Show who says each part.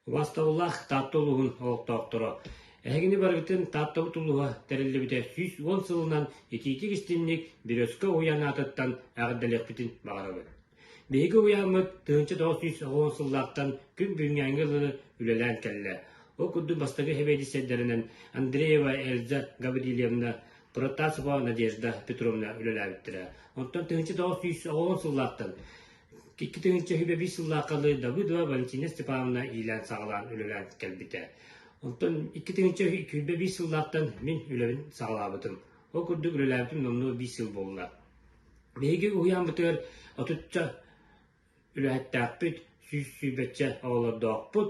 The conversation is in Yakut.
Speaker 1: Убастабыллаах Таатта улууһун олохтоохторо! Эһигини барыбытын Тааттабыт улууһа тэриллибитэ сүүс уон сылынан итиитик-истинник Березка уһуйаан аатыттан эҕэрдэлиэхпитин баҕарабыт. Биһиги уһуйааммыт тыһыынча тоҕус сүүс оҕо сыллаахтан күн бүгүҥҥээҥи ылыны үлэлээн кэллэ. Ол курдук бастакы сэбиэдиссэйдэринэн Андреева Эльза Гаврильевна, Протасова Надежда Петровна үлэлээбиттэрэ. Онтон тыһыынча тоҕус сүүс оҕо сыллаахтан Икки тыһыынча сөһүбэ биис сыллаахханы Давыдова Валентина Степановна иилээн-саҕалаан үлэлээн кэлбитэ. Онтон икки тыһыынча сүүрбэ биис сыллаахтан мин үлэбин саҕалаабытым. Ол курдук үлэлээбитим номнуо биис сыл буолла. Биһиги уһуйааммытыгар отучча үлэһиттээхпит, сүүс сүүрбэччэ оҕолордоохпут,